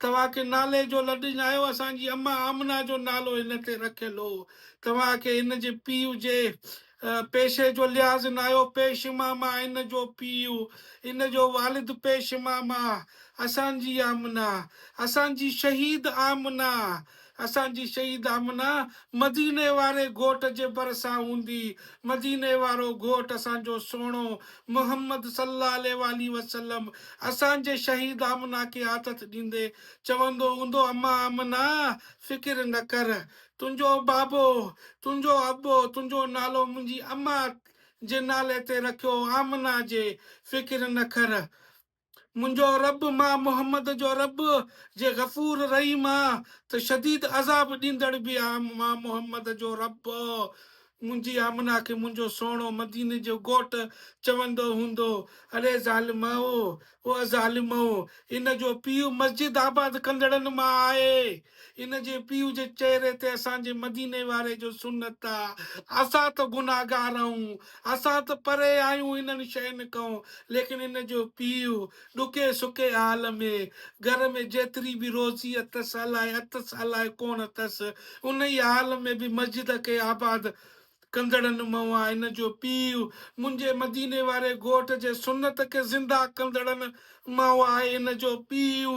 توهان کي نالي جو لڏڃايو اسان جي امان آمنه جو نالو هن تي رکيل هو توهان کي هن جي پيء جي پيشي جو لحاظ ناهيو پيش ماما هن جو پيء هن جو والد پيش ماما اسان جي آمنه اسان جي شهيد آمنه اسان جي شهيد آمنه مديني واري گهوٽ جي ڀرسان هوندي. مديني وارو گهوٽ اسان جو سهڻو محمد صلي الله عليه واٰله وسلم اسان جي شهيد آمنه کي آٿت ڏيندي چوندو هوندو امان آمنه فڪر نه ڪر تنهنجو بابو تنهنجو ابو تنهنجو نالو منهنجي امان جي نالي تي رکيو آمنه جي فڪر نه کر. منهنجو رب، مان محمد جو رب، جي غفور رحيم آ ته شديد عذاب ڏيندڙ به آ، مان محمد جو رب، منهنجي آمنه کي منهنجو سهڻو مديني جو گهوٽ چوندو هوندو، اڙي ظالمؤ، او ظالمؤ، ان جو پيء مسجد آباد ڪندڙن مان آهي. ان جي پيء جي چهري تي اسان جي مديني واري جو سنت آ، اسان ته گنهگار آهيون، اسان ته پري آهيون انهن شين کان، ليڪن ان جو پيء ڏکي سکي حال ۾، گهر ۾ جيتري به روزي اٿس الائي اٿس الائي ڪونه اٿس، انهي حال ۾ به مسجد کي آباد ڪندڙن مان آ، ان جو پيء منهنجي مديني واري ڳوٺ جي سنت کي زنده ڪندڙن مان آهي، ان جو پيء.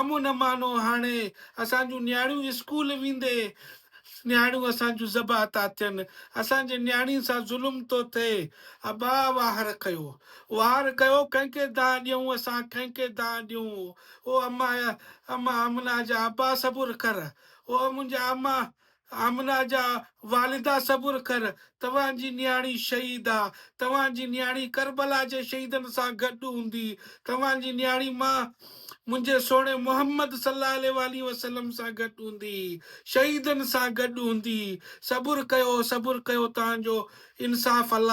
امن امانو هاڻي اسان جون نياڻيون اسڪول ويندي نياڻيون اسان جون ذبح ٿا ٿين اسان جي نياڻين سان ظلم ٿو ٿئي ابا واهر ڪيو واهر ڪيو ڪنهن کي دانهن ڏيون اسان ڪنهن کي دانهن ڏيون او اما اما امنا جا ابا صبر ڪر او منهنجا اما آمنه جا والدا صبر ڪر توهان جي نياڻي شهيد آ توهان جي نياڻي ڪربلا جي شهيدن سان گڏ هوندي توهان جي نياڻي مان منهنجي سهڻي محمد صلي الله عليه واٰله وسلم سان گڏ هوندي شهيدن سان گڏ هوندي صبر ڪيو صبر ڪيو تهان جو انصاف الله